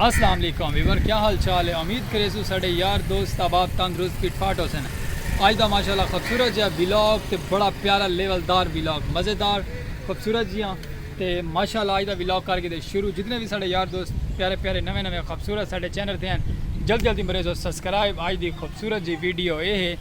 السلام علیکم ویور کیا حال چال ہے امید کرے سو ساڈے یار دوست احباب تندرست فٹ فاٹ ہو سن اج دا ماشاءاللہ خوبصورت جہا ویلاگ تے بڑا پیارا لیول دار ویلاگ مزیدار خوبصورت جیاں تے ماشاءاللہ اج دا ویلاگ کر کے دے شروع جتنے بھی ساڈے یار دوست پیارے پیارے نوے نوے خوبصورت ساڈے چینل تے ہیں جلد جلدی مریزو سبسکرائب اج دی خوبصورت جی ویڈیو اے ہے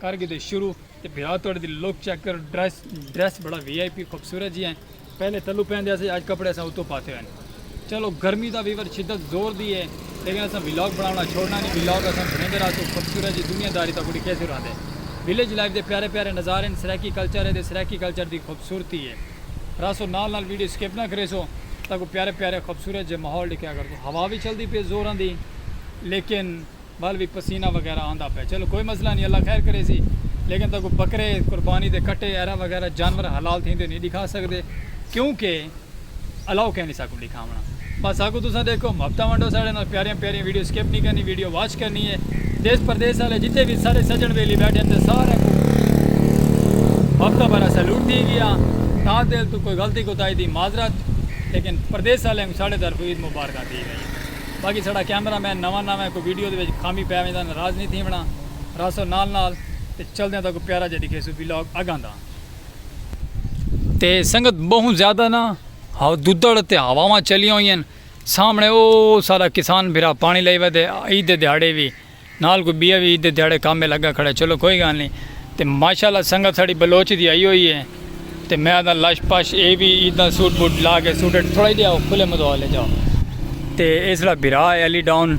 کر گھدے شروع تے بھرا توڑے دی لک چیک کر ڈریس ڈریس بڑا وی آئی پی خوبصورت جی ہیں پہلے تلو پہندے اسے اج کپڑے اساں اتو پاتے ہوئے چلو گرمی دا ویور شدت زور دی ہے لیکن اساں ویلاگ بناونا چھوڑنا نہیں ویلاگ اساں بھریندے رہا تو خوبصورت جی دنیا داری تا کڑی کیسے رہندے ویلیج لائف دے پیارے پیارے نظارے ہیں سرائیکی کلچر ہے دے سرائیکی کلچر دی خوبصورتی ہے راسو نال نال ویڈیو سکپ نہ کریسو تاکو پیارے پیارے خوبصورت جے ماحول ڈکھیا کر تو ہوا بھی چل دی پہ زور آن دی لیکن ول وی پسینہ وغیرہ آندا پئے چلو کوئی مسئلہ نی اللہ خیر کریسی لیکن تہاکوں بکرے قربانی دے کٹے ایرا وغیرہ جانور حلال تھیندے نی ڈکھا سکدے کیوں کہ الاؤ کینی ساکوں ڈکھاونڑاں بس ساکوں تساں ڈیکھو محبتاں ونڈو ساڈے نال پیاریاں پیاریاں ویڈیو سکپ نی کرنی ویڈیو واچ کرنی ہے دیس پردیس آلے جتھے وی سارے سجن ویلی بیٹھے تے سارے کوں محبتاں بھرا سیلوٹ تھی گیا تا دل تو کوئی غلطی کوتاہی دی معذرت لیکن پردیس آلے کوں ساڈے طرفوں عید مبارکاں تھی گئی باقی ساڈا کیمرہ مین نواں نواں ہے کوئی ویڈیو دے وچ خامی پے ونجدا ناراض نی تھیونڑا رہسو نال نال تے چلدیاں تہاکوں پیارا جیہا ڈکھیسوں ویلاگ اگاں دا تے سنگت بہوں زیادہ نا ہوددڑ تے ہواواں چلیاں ہوئین سامنے او ساڈا کسان بھرا پانی لئی ودے عید دے دیہاڑے وی نال کوئی بیا وی عید دے دیہاڑے کم اے لگا کھڑا ہے چلو کوئی گال نی تے ماشاءاللہ سنگت ساڑی بلوچ دی آئی ہوئی اے تے میں آدھاں لش پش اے وی عیداں سوٹ بوٹ لا کے سوٹ اچ تھوڑا جیا کھلے مدول اچ آ تے اے ساڑا بھرا اے علی ڈاؤن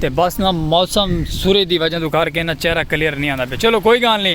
تے بس نا موسم سورج دی وجہ توں کر کے نا چہرہ کلیئر نی آندا پیا چلو کوئی گال نی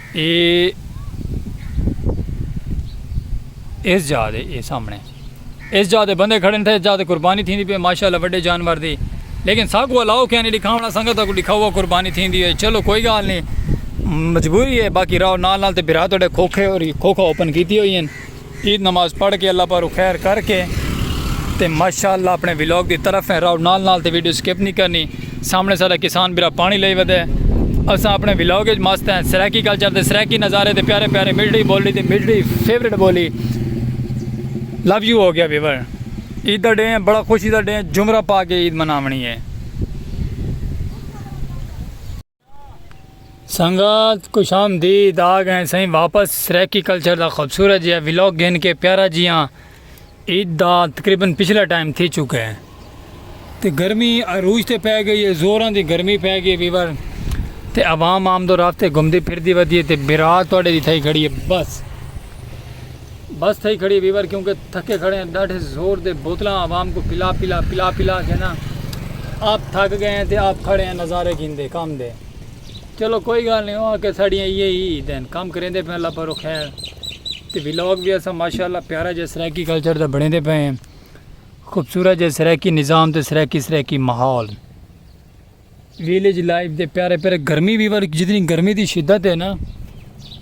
اے ایس جاہ دے اے سامنے ایس جاہ دے بندے کھڑن تھے ایس جاہ دے قربانی تھیندی پے ماشاءاللہ وڈے جانور دی لیکن سا کو الاؤ کیا نہیں دکھاونا سنگت کو دکھاوا قربانی تھیندی ہے چلو کوئی گال نہیں مجبوری ہے باقی راو نال نال تے بھرا تڈے کھوکھے اور کھوکھا اوپن کیتی ہوئی ہیں عید نماز پڑھ کے اللہ پاروں خیر کر کے تے ماشاءاللہ اپنے ویلاگ دی طرف ہیں راؤ نال نال تے ویڈیو سکپ نہیں کرنی سامنے سارا کسان برا پانی لئی ودے اساں اپنے ویلاگ اچ مست ہیں سرائیکی کلچر دے سرائیکی نظارے دے پیارے پیارے ملڈی بولی دے ملڈی فیورٹ بولی لو یو ہو گیا ویور عید دا ڈے ہیں بڑا خوشی دا ڈے ہیں جمرہ پا کے عید مناونی ہے سنگت خوش آمدید آ گئے سائیں واپس سریکی کلچر دا خوبصورت جہا ولاگ گھن کے پیارا جیاں عید دا تقریبا پچھلا ٹائم تھی چکا ہے تے گرمی عروج تے پی گئی ہے زوراں دی گرمی پی گئی ویور تے عوام عام دو رافتے گھمدی پھردی ودی ہے تے برا تواڈے دی تھائی کھڑی ہے بس بس تھئی کھڑی ہے ویور کیونکہ تھکے کھڑے ہیں ڈاڈھے زور دے بوتلاں عوام کو پلا پلا پلا پلا کے نا آپ تھک گئے ہیں تے آپ کھڑے ہیں نظارے گھن دے کام دے چلو کوئی گال نہیں ہوا کہ ساڑیاں یہ ہی دین کام کریں دے پہ اللہ پر رکھے ہیں تے ویلوگ بھی ایسا ماشاءاللہ پیارا جے سریکی کلچر دا بڑھیں دے پہ ہیں خوبصورت جے سریکی نظام تے سریکی سریکی محول ویلیج لائف دے پیارے پیارے گرمی بھی ور جتنی گرمی دی شدت ہے نا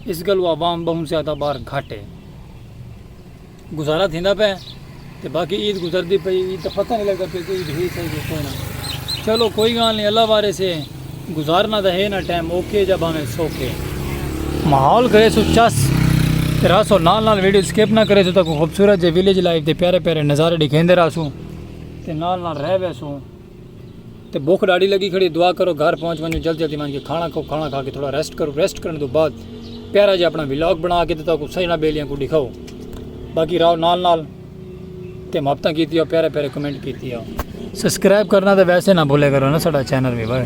اس گل وہ عوام بہن سے آتا باہر گھٹ ہے گزارا تھیندا پہ تے باقی عید گزر دی پئی عید پتہ نہیں لگدا پہ کہ عید ہی صحیح ہے کوئی نہ چلو کوئی گال نہیں اللہ وارے سے گزارنا دا ہے نا ٹائم اوکے جب ہمیں سوکے ماحول کرے سو چس تیرا سو نال نال ویڈیو سکپ نہ کرے سو تک خوبصورت جے ویلیج لائف دے پیارے پیارے نظارے دکھیندے رہا سو تے نال نال رہ وے سو تے بھوک ڈاڈھی لگی کھڑی دعا کرو گھر پہنچ ونجو جلد جلدی ونج کے کھانا کھاؤ کھانا کھا کے تھوڑا ریسٹ کرو ریسٹ کرنے تو بعد پیارا جی اپنا ولاگ بنا کے دیتا کو سجنا بیلیاں کو دکھاؤ باقی راو نال نال تے محبتاں کیتی ہو پیارے پیارے کمنٹ کیتی ہو سبسکرائب کرنا تے ویسے نہ بھولے کرو نا ساڈا چینل بھی بھائی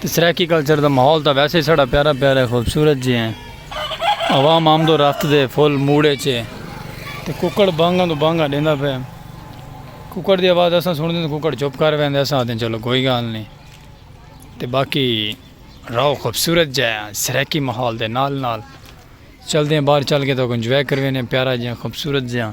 تے سرائیکی کلچر دا ماحول تاں ویسے ہی ساڑا پیارا پیارا ہے خوبصورت جے ہیں عوام آمد و رفت دے فل موڈ اچ ہے تے ککڑ بانگاں توں بانگاں ڈیندا پئے ککڑ دی آواز اساں سنڑدے ہیں تے ککڑ چپ کر ویندے اساں آکھدے ہیں چلو کوئی گالھ نئیں تے باقی راہو خوبصورت جے ہیں سرائیکی ماحول دے نال نال چلدے ہیں باہر چل کے تاکوں انجوائے کر ویندے ہیں پیارا جے ہیں خوبصورت جے ہیں۔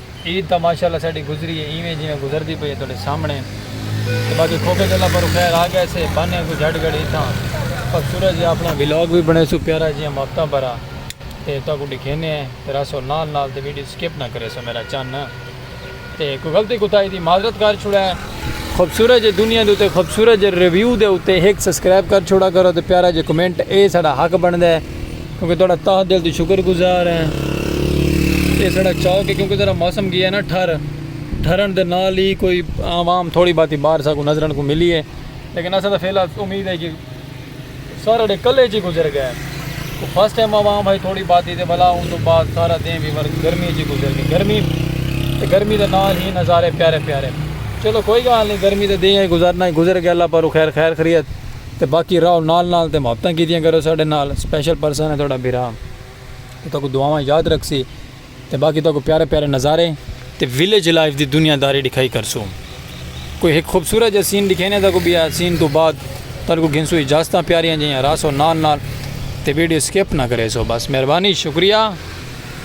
عید تاں ماشاءاللہ ساڈی گزری ہے ایویں جیویں گزردی پئی ہے تہاڈے سامنے تے باقی کھوکھے جھلاں پروں خیر آ گئے سے بانھے کوں جھٹ گھڑی تھاں پک سورج جی اپنا ولاگ وی بنڑے سو پیارا جیاں ماپتاں پرا تے تہاکوں ڈکھینے ہیں تے رہسو نال نال تے ویڈیو سکپ نہ کرے سو میرا چن تے کوئی غلطی کوتاہی دی معذرت کر چھوڑا ہے خوبصورت جے دنیا دے تے خوبصورت جے ریویو دے تے ہک سبسکرائب کر چھوڑا کرو تے پیارا جے کمنٹ اے ساڈا حق بنڑدا ہے۔ کیونکہ تہاڈا تہہ دل توں شکر گزار ہیں۔ ایہ ساڈا چوک ہے کیونکہ ذرا موسم گیا نا ٹھر۔ ٹھرن دے نال ہی کوئی عوام تھوڑی باتی باہر سا کو نظرن کو ملی ہے۔ لیکن اساں تاں فی الحال امید ہے کہ سارے دے کلے جی گزر گئے۔ فرسٹ ٹائم عوام آئی تھوڑی باتی دے بھلا ان دے بعد سارا دین بھی ورد گرمی جی گزر گئے۔ گرمی تے گرمی دے نال ہی نظارے پیارے پیارے۔ چلو کوئی گال نہیں گرمی دے دین گزرنا ہی گزر گئے اللہ پر خیر خیر خریت۔ تے باقی راہو نال نال تے محبتاں کیتیاں کرو ساڈے نال سپیشل پرسن ہے تہاڈا بھرا تے تہاکوں دعاواں اچ یاد رکھسی تے باقی تہاکوں پیارے پیارے نظارے تے ویلیج لائف دی دنیا داری ڈکھائی کرسوں کوئی ہک خوبصورت جیہا سین ڈکھینے تہاکوں بیا سین توں بعد تہاڈے کوں گھنسوں اجازتاں پیاریاں جیہاں راہسو نال نال تے ویڈیو سکپ نہ کریسو بس مہربانی شکریہ۔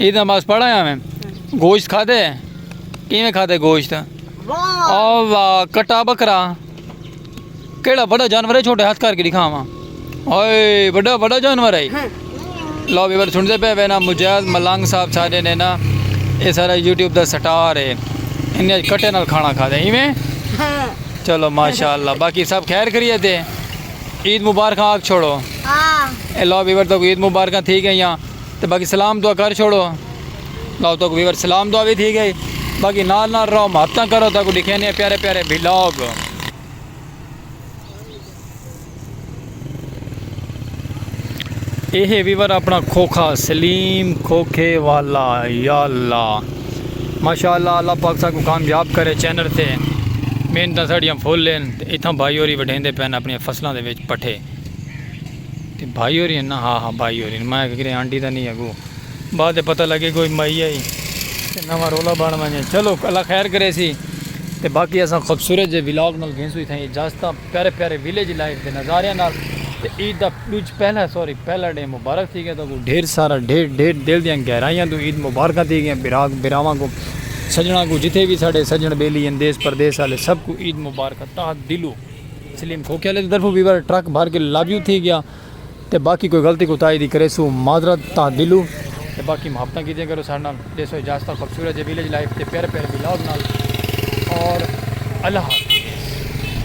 عید نماز پڑھا یا میں گوشت کھا دے کیویں کھا دے گوشت او واہ کٹا بکرا کیڑا بڑا جانور ہے چھوٹے ہاتھ کر کے دکھاواں اوئے بڑا بڑا جانور ہے لو بھی بڑا سن دے پے وے نا مجاز ملنگ صاحب سارے نے نا اے سارا یوٹیوب دا سٹار ہے انہیں کٹے نال کھانا کھا دے ایویں چلو ماشاءاللہ باقی سب خیر کریے تے عید مبارکاں آگ چھوڑو اے لو بھی بڑا تو عید مبارکاں تھی گئیاں تے باقی سلام دعا کر چھوڑو لاؤ تو ویور سلام دعا بھی تھی گئی باقی نال نال رہو ماتاں کرو تو لکھے نہیں پیارے پیارے ویلاگ یہ ویور اپنا کھوکھا سلیم کھوکھے والا یا اللہ ماشاء اللہ اللہ پاک سا کو کامیاب کرے چینل تے محنت ساڑیاں پھول لین اتھاں بھائی ہوری وڈھیندے پین اپنی فصلوں دے وچ پٹھے تے بھائی ہوریں ہن نا؟ ہا ہا بھائی ہوریں ہن، میں آکھیا کیرے آنٹی تاں نئیں اگو بعد تے پتہ لگے کوئی مائی آئی تے نواں رولا بن ونجے چلو اللہ خیر کریسی تے باقی اساں خوبصورت جے ولاگ نال گھنسوں اتھاں اجازتاں پیارے پیارے ولیج لائف دے نظاریاں نال تے عید دا ڈوجھ پہلا سوری پہلا ڈینہہ مبارک تھی گئے تہاکوں ڈھیر سارا ڈھیر ڈھیر دل دیاں گہرائیاں توں عید مبارکاں تھی گئیاں بھرا بھراواں کوں سجنڑاں کوں جتھے وی ساڈے سجنڑ بیلی ہن دیس پردیس آلے سب کوں عید مبارکاں تہہ دلوں۔ سلیم کھوکھیالے دی طرفوں ویور ٹرک بھر کے لابیو تھی گیا تے باقی کوئی غلطی کوتاہی دی کریسو معذرت تاں دلو تے باقی محبتاں کیتیاں کرو ساڈے نال ڈیسو اجازتاں خوبصورت جے ویلیج لائف تے پیارے پیارے ولاگ نال اور اللہ حافظ